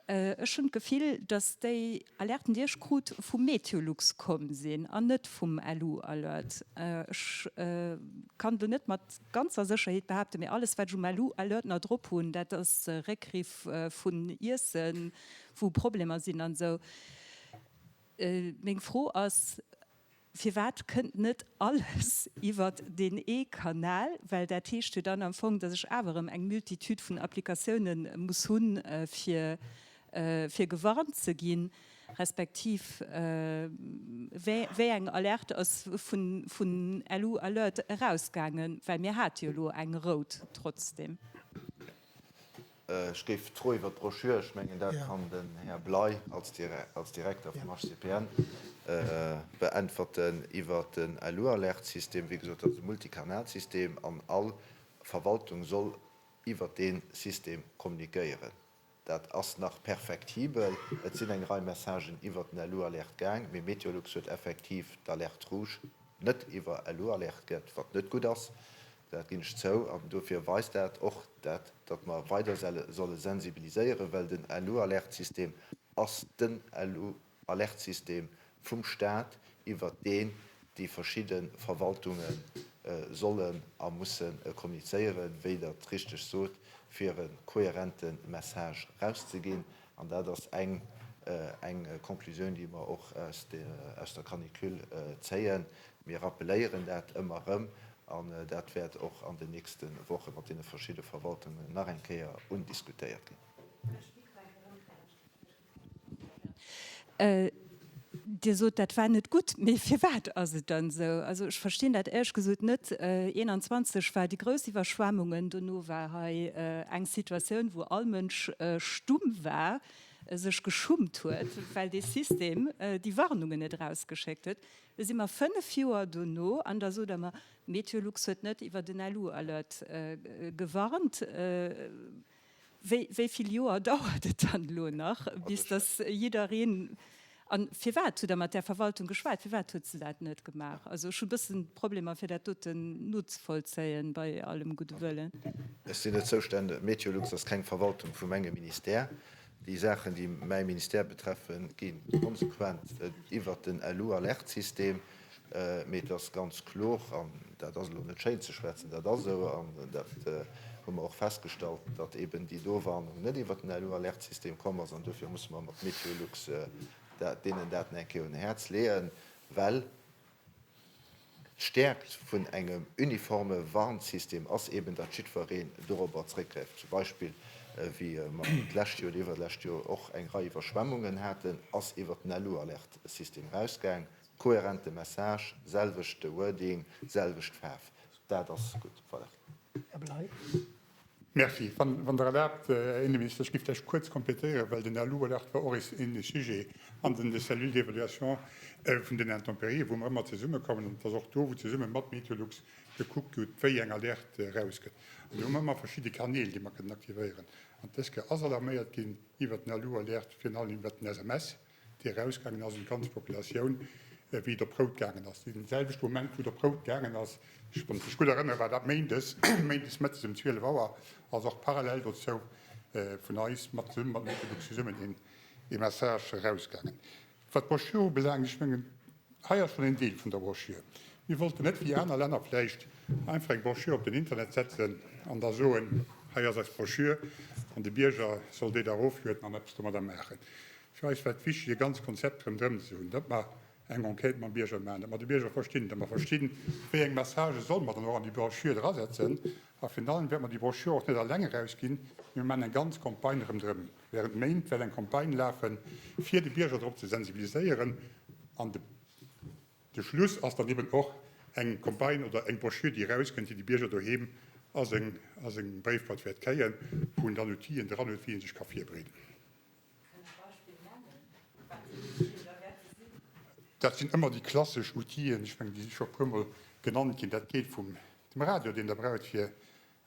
Speaker 4: Ech hunn d'Gefill, dass déi Alerten, déi ech krut, vu Meteolux komm sinn an net vum LU Alert. Ech kann elo net mat ganzer Sécherheet behaapten, mee alles, wat ech um LU Alert nach drop hunn, dat ass Réckriff vun Iessen, wou Problemer sinn an esou. Meng Fro ass. Firwat kënnt net alles iwwert deen ee Kanal? Well dat heescht jo dann am Fong, dass ech awer erëm eng Multitude vun Applikatioune muss hunn, fir gewarnt ze ginn, respektiv wéi eng Alerte ass vun LU Alert erausgaangen? Well mir hate jo elo eng rout trotzdeem.
Speaker 2: Ech géif d'Fro iwwert d'Broschür, ech mengen, dat kann den Här Bley als Direkter vum HCPN beäntwerten, iwwert den Alualerte-System. Wéi gesot, dat ass e Multikanalsystem an all Verwaltung soll iwwert dee System kommunikéieren. Dat ass nach perfektibel. Et sinn eng Rei Messagen iwwert den Alualerte gaang, mee Meteolux huet effektiv d'Alerte rouge net iwwer Alualerte gëtt, wat net gutt ass. Dat ginn ech zou. An dofir weist dat och dat, datt mer weider solle sensibiliséieren, well den LU-Alertsystem ass den LU-Alertsystem vum Stat, iwwert deen déi verschidde Verwaltunge sollen a musse kommunizéieren, wéi Der et richteg sot, fir e kohärente Message erauszeginn. An dat ass eng Conclusioun, déi mer och aus der Canicule zéien, Mir rappeléieren dat ëmmer erëm an dat wäert och an den nächste Woche mat deene verschidde Verwaltungen nach eng Kéier undiskutéiert ginn.
Speaker 4: Dir sot, dat war net gutt, mee firwat ass et dann esou? Also ech verstinn dat éierch gesot net. 21 war déi grouss Iwwerschwemmungen, dono war hei eng Situatioun, wou all Mënsch stumm war, sech geschummt huet, well dee System déi Warnungen net erausgeschéckt huet. Lo si mer fënnef Joer dono an da sot Der mer, Meteolux huet net iwwer den LU Alert gewarnt. Wéi vill Joer dauert et dann elo nach, bis dass jiddereen, a firwat hutt Der mat där Verwaltung geschwat, firwat huet se dat net gemaach? Also ech hu bëssen Problemer fir dat doten nozevollzéien, bei allem gudde Wëllen. Ech sinn net
Speaker 2: zoustänneg, Meteolux ass keng Verwaltung vum engem Ministère. Déi Saachen, déi mäi Ministère betreffen, gi konsequent iwwert den LU-Alerte-System. Mee et ass ganz kloer, an dat ass elo net schéin ze schwätzen, dat ass esou, an dat hu mer och festgestallt, datt eben déi do Warnung net iwwert den LU-Alerte-System komm ass. An dofir musse mer mat MeteoLux deenen Daten eng Kéier un e Häerz leeën, well D'Stäerkt vun engem uniforme Warnsystem ass eben, datt jiddwereen dorobber zréckgräift. Zum Beispill, wéi mer d'lescht Joer oder iwwerlescht Joer och eng Rei Iwwerschwemmungen haten, ass iwwert den LU-Alerte-System erausgaang. Kohärente Message, selwechte Wording, selwecht Faarf, dat ass gutt. Voilà. Här Bley.
Speaker 1: Merci.
Speaker 5: Wann Der erlaabt, Här Inneminister, ech géif vläicht kuerz kompletéieren, well den Här Luberlard war och eens ähnlech Sujet an den de Cellule d'évaluation vun den Intempérien, wou mer ëmmer zesummekommen, an et ass och do, wou zesumme mat Meteolux gekuckt gëtt, wéi eng Alerte erausgëtt. An do hu mer ëmmer verschidde Kanäl, déi mer kënnen aktivéieren. An dës Kéier ass alarméiert ginn iwwert den Alu-Alerte, virun allem iwwert den SMS. déi erausgaangen ass un d'ganz Populatioun, wéi et op rout gaangen ass, dee selwechte Moment, wou et op rout gaangen ass, ech, wann ech mech gutt erënnere war dat méindes, méindes mëttes ëm 12 Auer, ass och parallel dozou vun eis mat, zesummen mat Metebuck zesummen, een Message erausgaangen, wat d'Broschüre ubelaangt. Ech mengen, Hei ass schonn een Deel vun der Brochure. Mir wollten net wéi aner Länner vläicht einfach eng Brochure op den Internet setzen an da soen, hei ass eis Brochure an de Bierger soll déi da eroflueden an eppes domadder maachen. Fir eis war et wichteg e ganz Konzept rëmdrëm ze hunn, datt mer eng Enquête mam Bierger maachen, datt mer de Bierger verstinn, datt mer verstinn, wéi eng Messagë solle mer dann och an déi Brochure drasetzen. A virun allem wäerte mer déi Brochure och net alleng erausginn, mee mir maachen eng ganz Campagne rëmdrëm. Während Méint well eng Campagne lafen fier de Bierger drop ze sensibiliséieren an de de Schluss ass dann eben och eng Campagne oder eng Broschür déi raus kënnt déi de Bierger doheem a seng a seng Bréifboîte wäert kréien wou en dann Outill'en dran huet wéi en sech ka virbreeden. Dat sinn ëmmer déi klassesch Outill'en, ech mengen déi si scho puermol genannt ginn, dat geet vum dem Radio deen der braucht fir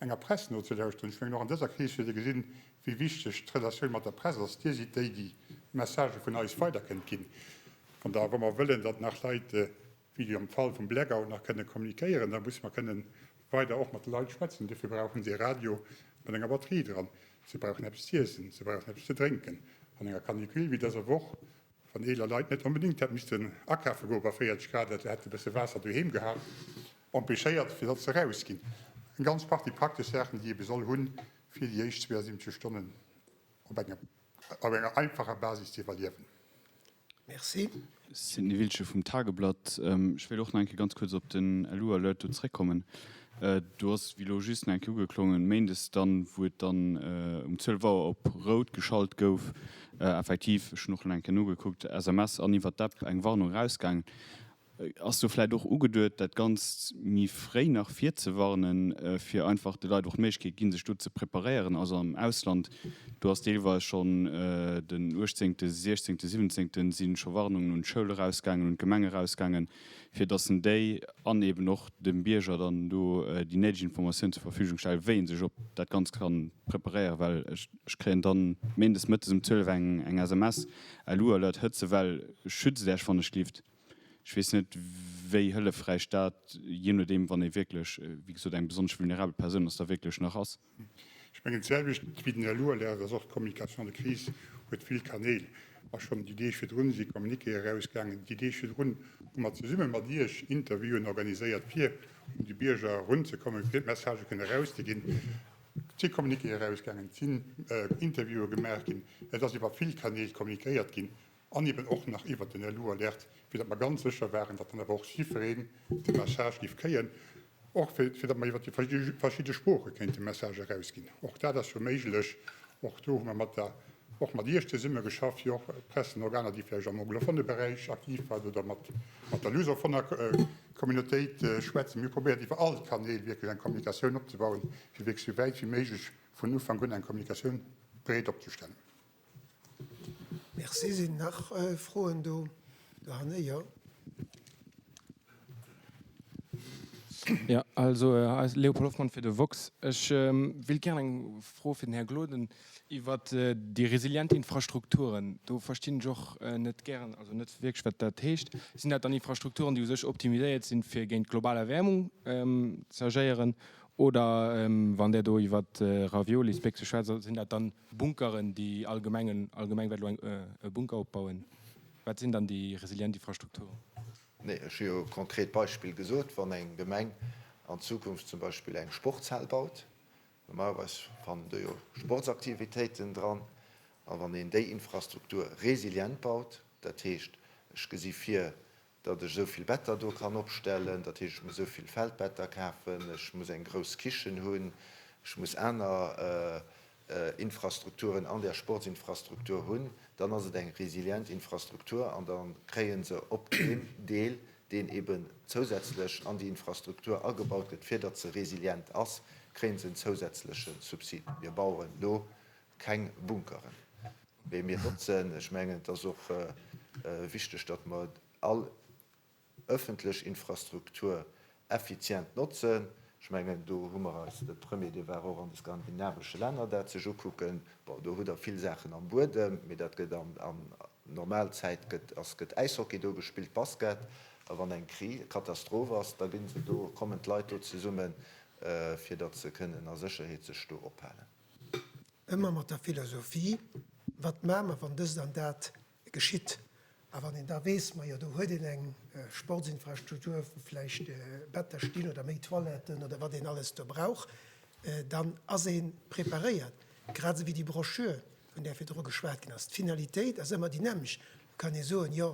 Speaker 5: Enger Press nozelauschteren. Ech mengen, och an dëser Kris huet ee gesinn, wéi wichteg d'Relatioun mat der Press ass. Dir sidd déi, déi d'Messagë vun eis weider kënnt ginn. Von daher, wa mer wëllen, datt nach Leit, wéi am Fall vum Blackout, nach kënne kommunikéieren, da musse mer kënnen weider och mat de Leit schwätzen. Dofir brauche se e Radio mat enger Batterie dran, se brauchen eppes z'iessen, se brauchen eppes ze drénken. An enger Canicule wéi dëser Woch Wann eeler Leit net onbedéngt hätt missten akafe goe bei 40 Grad, dat se hätte bësse Waasser doheem gehat, empêchéiert, fir datt se erausginn. Eng ganz Partie praktesch Saachen, déi ee besoll hunn, fir déi éischt 72 Stonnen op enger op enger einfacher Basis ze iwwerliewen. Merci.
Speaker 1: Sidney
Speaker 6: Wiltgen vum Tageblatt, Ech wéilt och nach eng Kéier ganz kuerz op den LU-Alert do zeréckkommen. Do ass et, wéi elo just eng Kéier ugeklongen, méindes dann, wou et dann um 12 Auer op rout geschalt gouf, effektiv, ech hunn och elo eng Kéier nogekuckt, SMS an iwwert d'App eng Warnung erausgaangen. Ass do vläicht och ugeduet, dat Ganzt méi fréi nach virzewarnen, fir einfach de Leit och d'Méiglechkeet ginn, sech do ze preparéieren? Also am Ausland, do ass deelweis schonn den uechtzéngte, sechzéngte, siwwenzéngte si scho Warnungen un d'Schoul erausgaangen, un d'Gemeng erausgaangen, fir dass en déi an eben och dem Bierger dann do déi néideg Informatiounen zur Verfügung stellt, wéi en sech op dat Ganzt kann preparéieren, well ech kréien dann méindes mëttes um 12 eng SMS, LU Alert, Hëtzewell, schützt Äech wann e schlift. Ech weess net, wéi hëllefräich dat, jee nodeem, wann ee wierklech, wéi gesot, eng besonnesch vulnerabel Persoun ass, da wierklech nach ass. Ech mengen,
Speaker 5: d'selwecht wéi den Här Loerder, et ass och d'Communication de crise huet vill Kanäl. A schonn déi Deeg virdrun si Communiqué erausgaangen. Déi Deeg virdrun hu mer zesumme mat Iech Interviewen organiséiert, fir un de Bierger erunzekommen, fir d'Messagë kënnen erauszeginn. Et si Communiquéë erausgaangen, et sinn Interviewe gemaach ginn, et ass iwwer vill Kanäl kommuniquéiert ginn. An eben och nach iwwert den Yellow Alert, fir datt mer ganz sécher waren, datt dann awer och jiddwereen de Message géif kréien, och fir datt mer iwwert déi verschidde Sprooche kéinten de Message erausginn. Och dat ass jo méiglech. Och do hu mer mat der, och mat Iech zesumme geschafft, fir och Pressenorganer, déi vläicht am anglofone Beräich aktiv waren oder mat der lusofoner Communautéit schwätzen. Mir hu probéiert iwwer all d'Kanäl wierklech eng Kommunikatioun opzebauen, fir wierklech esou wäit wéi méiglech vun Ufank un eng Kommunikatioun breet opzestellen.
Speaker 1: Merci. Sinn nach Froen do dohanne? Jo.
Speaker 7: Ja, also Léopold Hoffmann fir de woxx. Ech wéilt gär eng Fro fir den Här Gloden iwwer déi resilient Infrastrukturen. Do verstinn ech och net gären, also net wierklech, wat dat heescht. Sinn dat dann Infrastrukturen, déi u sech optimiséiert sinn, fir géint global Erwäermung z'agéieren? Oder wann Der do iwwer Raviolisbéck sou schwätzt, sinn dat dann Bunkeren, déi allgemengen, allgemeng wäert elo eng, e Bunker opbauen. Wat sinn dann déi resilient Infrastrukturen? Nee, ech hu
Speaker 2: jo e konkret Beispill gesot. Wann eng Gemeng an Zukunft zum Beispill eng Sportshal baut, normalerweis fannen do jo Sportsaktivitéiten dran, a wann een déi Infrastruktur resilient baut, dat heescht, ech gesi vir, datt ech esou vill Better do kann opstellen, dat heescht, ech muss esou vill Feldbetter kafen, ech muss eng grouss Kichen hunn, ech muss aner Infrastrukturen an där Sportsinfrastruktur hunn, dann ass et eng resilient Infrastruktur an da kréie se op deem Deel, deen eben zousätzlech an déi Infrastruktur agebaut gëtt, fir datt se resilient ass, kréie se en zousätzleche Subsid. Mir bauen elo Keng Bunkeren, mee mir notzen, ech mengen et ass och wichteg, datt mer all ëffentlech Infrastruktur effizient notzen. Ech mengen do hu mer eis, de Premier dee war och an de skandinavesche Länner dat sech ukucken, bon do hutt Der vill Saachen am Buedem, mee dat gëtt an normal Zäit gëtt ass gëtt Äishockey do gespillt, Basket, a wann eng Kri Katastroph ass, da gi se do, kommen d'Leit do zesummen, fir datt se kënnen a Sécherheet sech do ophalen. Ëmmer
Speaker 1: mat der Philosophie, Wat maache mer, wann dëst an dat geschitt? A wann een da weess, majo, do huet een eng Sportsinfrastruktur, wou vläicht Better stinn oder méi Toiletten oder wat een alles do brauch, dann ass ee preparéiert. Grad esou wéi déi Broschür, vun där virdru geschwat ginn ass. D'Finalitéit ass ëmmer déi nämmlecht. Da kann ee soen, jo,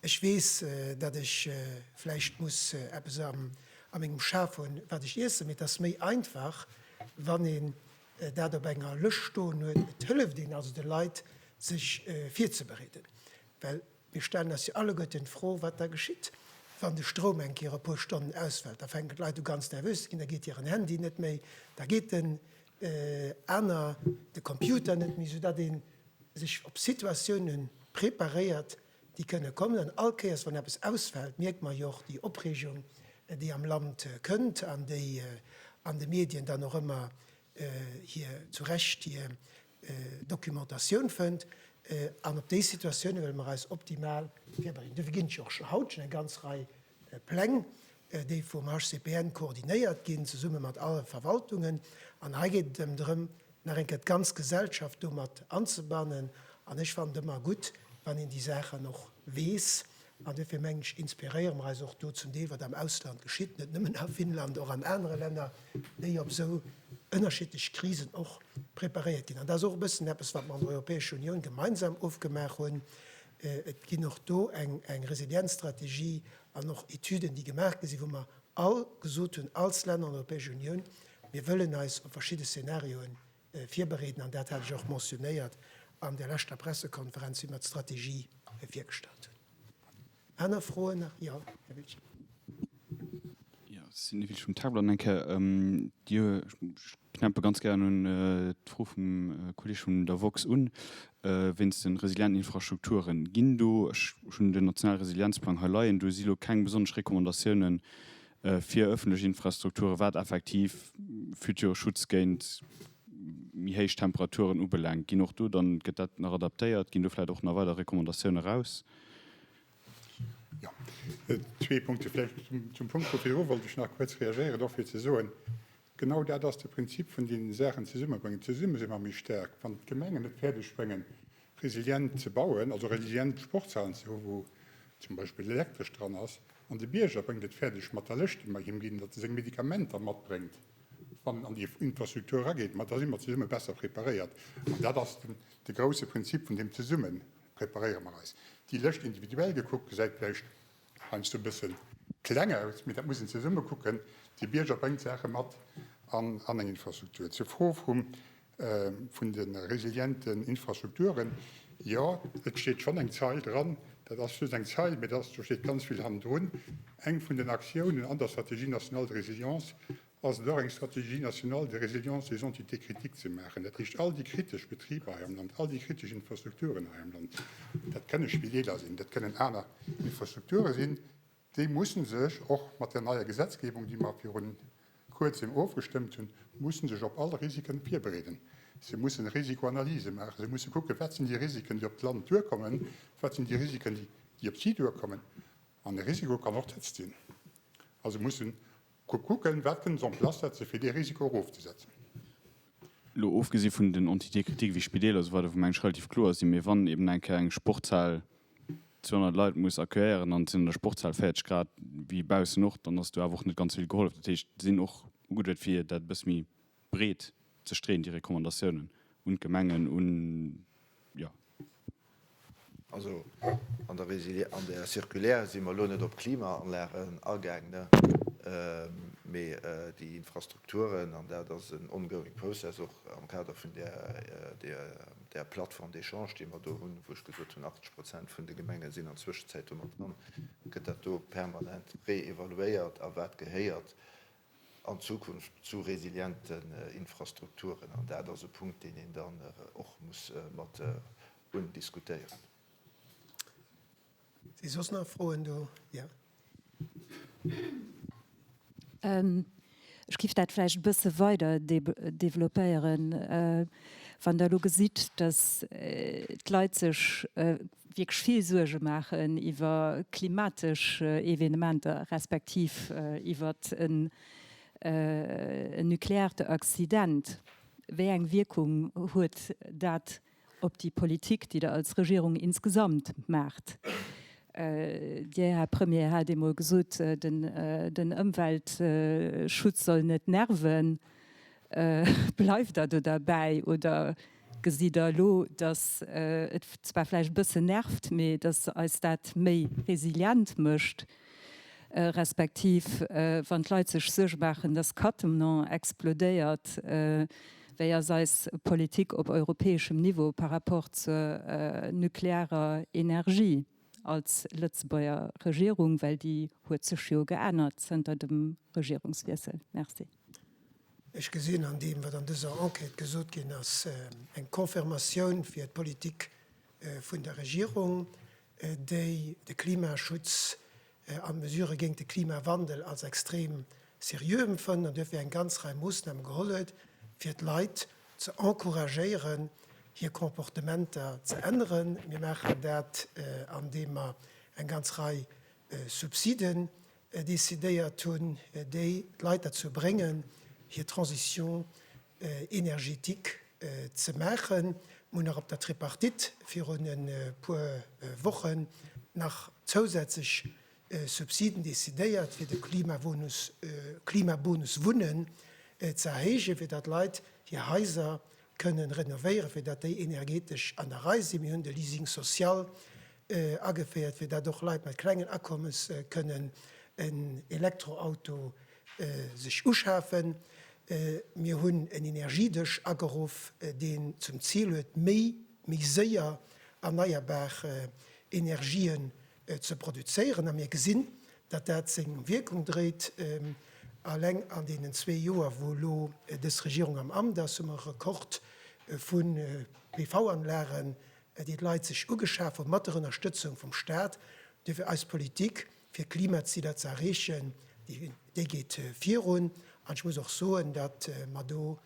Speaker 1: Ech weess, datt ech vläicht muss eppes a mengem Schaf hunn, wat ech iessen, mee et ass méi einfach, wann een dat op enger Lëscht stoen huet. Et hëlleft een also de Leit, sech virzebereeden, well mir stellen eis jo alleguerten d'Fro, wat da geschitt, wann de Stroum eng Kéier e puer Stonnen ausfält. Da fänken d'Leit u ganz nervös ze ginn, da geet hiren Handy net méi, da geet den aner, de Computer net méi, soudatt ee sech op Situatiounen preparéiert, déi kënne kommen an all Kéiers wann eppes ausfält, mierkt mer jo och déi Opreegung déi am Land kënnt an déi an de Medien dann och ëmmer hir, zu Recht, hir Dokumentatioun fënnt an op déi Situatioune wëlle mer eis optimal virbereeden. Dofir ginn et jo och scho haut schonn eng ganz Rei Pläng déi vum HCPN koordinéiert ginn, zesumme mat alle Verwaltungen. An hei geet et ëm drëm, nach eng Kéier d'ganz Gesellschaft do mat anzebannen. An ech fannen et ëmmer gutt, wann een déi Saachen och weess. An duerfir mengen ech, inspiréiere mer eis och do zum Deel, wat am Ausland geschitt, net nëmmen a Finnland, och an anere Länner, déi op esou ënnerschiddlech Krisen och preparéiert ginn. An dat ass och e bëssen eppes, wat mer an der Europäescher Unioun gemeinsam ofgemaach hunn. Et ginn och do eng Resilienzstrategie an och Etüden, déi gemaach gi sinn, wou mer all gesot hunn, als Länner an der Europäescher Unioun, mir wëllen eis op verschidde Szenarioe virbereeden, an dat hat ech och mentionnéiert an der leschter Pressekonferenz, wéi mer d'Strategie virgestallt hunn. Aner Froen nach? Jo, Här Wiltgen.
Speaker 6: Ja, Sylvie Wiltgen vum Tagblatt nach eng Kéier. Dir Knäppe ganz gären un d'Fro vum Kolleeg vun der woxx un, wéinst de resilienten Infrastrukturen. Ginn do, ech hunn den nationale Resilienzplang hei leien, do si lo keng besonnesch Recommandatiounen fir ëffentlech Infrastrukturen, wat effektiv future Schutz géint méi héich Temperaturen ubelaangt? Ginn och do dann, gëtt dat nach adaptéiert? Ginn do vläicht och nach weider Recommandatiounen eraus?
Speaker 5: Jo, zwee Punkte vläicht. Zum Punkt vu virdru wollt ech nach kuerz reagéieren, och fir ze soen, Genau dat ass de Prinzip vun den Saachen zesummebréngen. Zesumme si mer méi staark. Wann d'Gemengen et fäerdeg bréngen, resilient ze bauen, also resilient Sportshalen ze hu wou zum Beispill Elektresch dran ass, an de Bierger bréngt et fäerdeg mat der Lëscht déi mer him ginn, datt e seng Medikamenter matbréngt, wann en an déi Infrastruktur erageet, ma da si mer zesumme besser preparéiert. An dat ass de grousse Prinzip vun deem Zesumme preparéiere mer eis. Déi Lëscht individuell gekuckt gesäit vläicht heiansdo e bësse kleng aus, mee dat muss een zesumme kucken, de Bierger bréngt Saache mat an eng Infrastruktur. Zur Fro vun de resilienten Infrastrukturen, Jo, et steet schonn eng Zeil dran. Dat ass just eng Zeil, mee do steet ganz vill hannendrun. Eng vun den Aktiounen an der Stratégie nationale de résilience ass et och eng Stratégie nationale de résilience des entités critiques ze maachen, dat heescht all déi kritesch Betriber hei am Land, all déi kritesch Infrastrukturen hei am Land, dat kënne Spideeler sinn, dat kënnen aner Infrastrukture sinn, déi musse sech och mat där neier Gesetzgebung, déi mer viru Kuerzem ofgestëmmt hunn, musse sech op all Risike virbereeden. Se mussen Risikoanalyse maachen, se musse kucken, wat sinn déi Risiken, déi op d'Land duerkommen, wat sinn déi Risiken, déi op si duerkommen. An e Risiko kann och d'Hëtzt sinn. Also mussen Kuck kucken, wat kënnt se en place setze fir dee Risiko erofzesetzen. Elo
Speaker 6: ofgesi vun den Entitékritiken wéi Spideeler esou weider, wou mengen ech relativ kloer ass, déi mir, wann eben eng Kéier eng Sportshal 200 Leit muss accueillieren an et sinn an der Sportshal 40 Grad wéi baussen och, dann ass do awer och net ganz vill gehollef. Dat heescht, sinn och ugeduet fir dat e bësse méi breet ze streeën, déi Recommandatiounen un d'Gemengen, un, jo.
Speaker 2: Also an der Résilié, an der Circulaire si mer elo net op d'Klimaanlagen agaang, ne, mee déi Infrastrukturen, an dat ass en ongoing process, och am Kader vun där, där, där Plateforme d'échange, déi mer do hunn, wou ech gesot hunn, 80 Prozent vun de Gemenge sinn an Zwëschenzäit domat dran, gëtt dat do permanent réévaluéiert a wat gehéiert an Zukunft zu resilienten Infrastrukturen, an dat ass e Punkt, deen een dann och muss mat undiskutéieren.
Speaker 1: Si soss nach Froen do? Jo.
Speaker 4: Ech géif dat vläicht e bësse weider developpéieren. Wann Der elo gesitt, datt d'Leit sech wierklech vill Suerge maachen iwwer klimatesch Evenementer, respektiv iwwer en nukleaarte Accident. Wéi eng Wierkung huet dat op déi Politik, déi Der als Regierung insgesamt maacht? Dir, Här Premier, hat eemol gesot, den Ëmweltschutz soll net nerven. Bleift Der do derbäi oder gesitt Der elo, datt et zwar vläicht e bëssen nervt, mee datt eis dat méi resilient mécht, respektiv wann d'Leit sech Suerge maachen, datt Cattenom explodéiert, wéi ass eis Politik op europäeschem Niveau par rapport zur nuklearer Energie als Lëtzebuerger Regierung, well déi huet sech jo geännert zënter dem Regierungswiessel? Merci. Ech
Speaker 1: gesinn an deem, wat an dëser Enquête gesot ginn ass, eng Confirmatioun fir d'Politik vun der Regierung, déi de Klimaschutz an d'Mesurë géint de Klimawandel als extrem seriö empfënnt an duerfir eng ganz Rei Moossname geholl huet, fir d'Leit ze encouragéieren, hir Comportementer ze änneren. Mir maachen dat, andeem mer eng ganz Rei Subsiden decidéiert hunn, déi d'Leit derzou bréngen, hir Transition énergétique ze maachen. Mir hunn nach op der Tripartite virun e puer Wochen nach zousätzlech Subsiden decidéiert, fir de Klimabonus, Klimabonus Wunnen ze erhéijen, fir datt d'Leit hir Haiser kënnen renovéieren, fir datt déi energetesch an der Rei sinn. Mir hunn de Leasing social ageféiert, fir dat och Leit mat klengen Akommes kënnen en Elektroauto sech uschafen. Mir hunn en Energiedësch ageruff, deen zum Zil huet, méi, méi séier erneierbar Energien ze produzéieren. A mir gesinn, datt dat seng Wierkung dréit. Alleng an deenen zwee Joer, wou elo dës Regierung am Amt ass, hu mer e Rekord vu PV-Anlagen Et iert Leit sech ugeschaaft wor mat der Ënnerstëtzung vum Staat. Duerfir eis Politik fir Klimaziler ze erreechen, déi geet virun. An ech muss och soen, datt mer do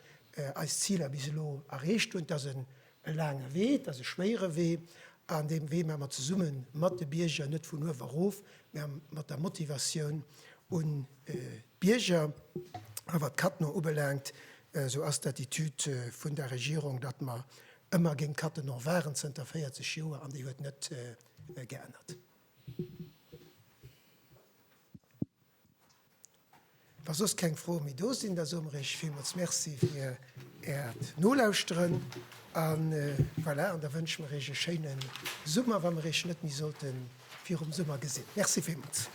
Speaker 1: eis Ziler bis elo erreecht hunn. Et ass e laange Wee, et ass e schwéiere Wee. An deem Wee maache mer zesumme mat de Bierger, net vun uewe erof, mä mat der Motivatioun un d'Bierger. A wat d'Cadno ubelaangt, esou ass d'Attitude vun der Regierung, datt mer Ëmmer géint Cattenom waren, zënter 40 Joer, an déi huet net geännert. Wa soss keng Froe méi do sinn, da soe mer Iech villmools Merci fir Äert Nolauschteren a voilà, an da wënsche mer Iech e schéine Summer, wa mer Iech net méi sollte virum Summer gesinn. Merci villmools.